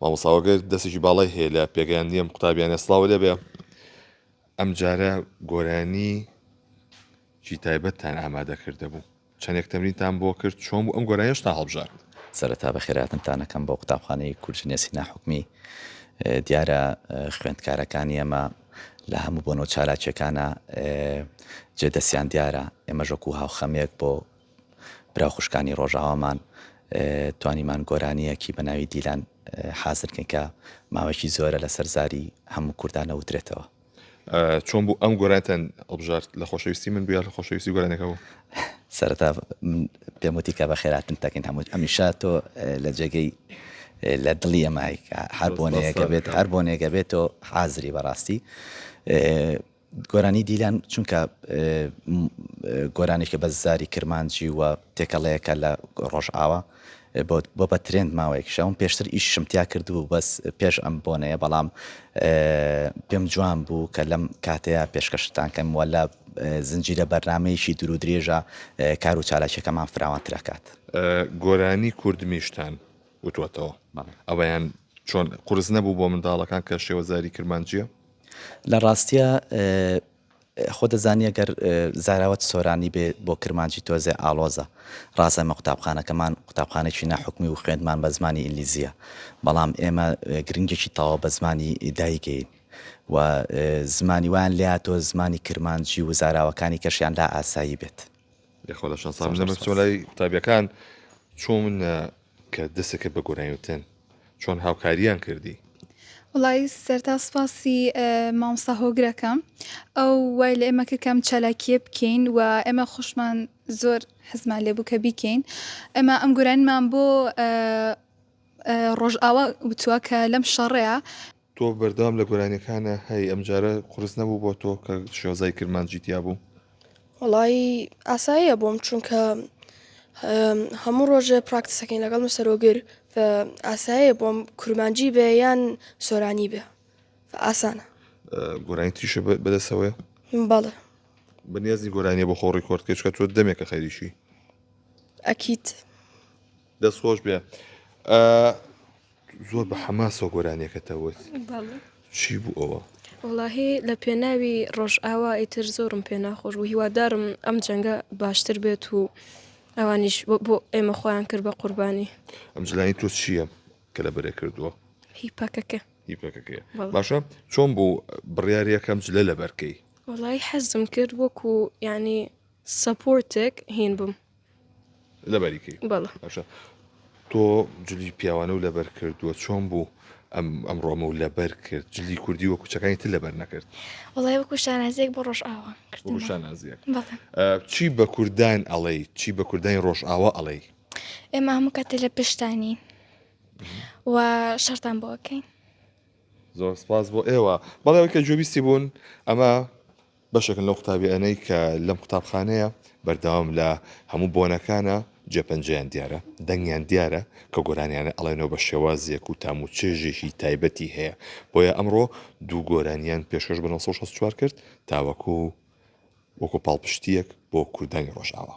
مامۆستا وەگەر دەستێکی باڵای هەیە لە پێگەیاندنی ئەم قوتابیانە سڵاو لێبێ ئەم جارە گۆرانی جی تایبەتتان ئامادە کردە بوو چەندێک تەمرینتان بۆ کرد چۆن بوو ئەم گۆرانیشتان هەڵبژارد سەرەتا بە خێراتنتانەکەم بۆ قوتابخانەی کورجنە سینا حکومی دیارە خوێندکارەکانی ئەمە لە هەموو بۆنەوە چالاکیەکانە جێ دەستیان دیارە ئێمەژەکو هاوخەمێک بۆ برا و خوشکانی ڕۆژاوامان توانیمان گۆرانیەکی بە ناوی دیلان حازر کەین کە ماوەیەکی زۆرە لەسەر زاری هەموو کوردان ئەوترێتەوە. چۆن بوو ئەم گۆرانیتان هەڵبژارد؟ لە خۆشەویستی من بوو یا لە خۆشەویستی گۆرانیەکە بوو؟ سەرەتا من پێم وتی کە بە خێراتنت دەکەین هەموو هەمیشە تۆ لە جێگەی لە دڵی ئەمای کە هەر بۆنەیەکە بێت هەر بۆنێکە بێت تۆ حازری بەڕاستی گۆرانی دیلان چونکە گۆرانێکە بە زاری کرمانجی و تێکەڵەیەکە لە ڕۆژئاوا بۆ بە ترند ماوەیەکیشە من پێشتر ئیشم تیا کردبوو بەس پێش ئەم بۆنەیە بەڵام پێم جوان بوو کە لەم کاتەیە پێشکەشتان کەم وە لە زنجیرە بەرنمەیەکی دوور و درێژە کار و چالاکیەکەمان فراوانترەکات گۆرانی کوردمیشتان وتوەتەوە ئەویان چۆن قرس نەبوو بۆ منداڵەکان کە شێوەزاری کرمانجیە؟ لە ڕاستیا خۆ دەزانی ئەگەر زاراوەت سۆرانی بێ بۆ کرمانجی تۆزێ ئاڵۆزە ڕاست ئەمە قوتابخانەکەمان قوتابخانێکی ناحکومی و خوێندمان بە زمانی ئینگلیزیە بەڵام ئێمە گرنگێکی تەواو بە زمانی دایکین و زمانی وان لیا تۆ زمانی کرمانجی و زاراوەکانی کەشیان لا ئاسایی بێت لەخۆ لە شەنسان لەمە چۆلای قوتابیەکان چۆن کە دەسەکەت بە گۆرانی وتن چۆن هاوکاریان کردی؟ وڵی سەرتا سوپاسی مامسا هۆگرەکەم ئەو وای لە ئێمە کرد کەم چالاکیە بکەین و ئێمە خوشمان زۆر حزمان لێبوو کە بیکەین ئەمە ئەم گورانمان بۆ ڕۆژئاوا وتووە کە لەم شەڕەیە تۆ بەردەوام لە گۆرانیەکانە هەی ئەمجارە قورس نەبوو بۆ تۆ کە شۆزای کرمانجی تیا بوو وەڵی ئاساییە بۆم چونکە هەموو ڕۆژێ پراکتسەکەین لەگەڵ مسەرۆگر ئاسایە بۆم کورمانجی بێ یان سۆرانی بێ ئاسانە گۆرانی تریشە بەدەسەوەی باڵە بەنیازی گۆرانیە بۆ خۆڕی کۆرتکەچکە تۆ دەمێکە خەریشی ئەکییت. دەست خۆش بێ زۆر بە حەماسۆ گۆرانیەکەتە وت چی بوو ئەوە وڵاهی لە پێناوی ڕۆژ ئاوا ئیتر زۆرم پێ ناخۆش بوو هیوادارم ئەم جەنگە باشتر بێت و ئەوانیش بۆ ئێمە خۆیان کرد بە قوربانی ئەم جلانی تۆ چییە کە لە بەرێ کردووە هی پاکەکە هی پاکەکە باشە چۆن بوو بڕیارەکەم جلە لە بەرکەی وڵی حەزم کرد وەکو ینی سەپۆرتێک هین بم لەبەریکەی بەڵە باشە تۆ جلی پیاوانە و لەبەر کردووە چۆن بوو ئەم ئەمڕۆمە و لەبەر کرد جلی کوردی وە کوچەکانی تر لەبەر نەکرد وڵای وەکو شانازێک بۆ ڕۆژ ئاوە شانازیەک چی بە کوردان ئەڵێ چی بە کوردانی ڕۆژ ئاوا ئەڵێ ئێمە هەموو کاتێ لە پشتانی و شەرتان بۆکەین زۆر سپاس بۆ ئێوە بەڵێ کە جوێبیستی بوون ئەمە بەشێکن لەو قوتابیانەی کە لەم قوتابخانەیە بەردەوام لە هەموو بۆنەکانا جێ پەنجەیان دیارە دەنگیان دیارە کە گۆرانیانە ئەڵێنەوە بە شێوازێک و تام و چێژێکی تایبەتی هەیە بۆیە ئەمڕۆ دوو گۆرانیان پێشکەش بە 964 کرد تاوەکو وەکو پاڵپشتیەک بۆ کوردانی ڕۆژاوا.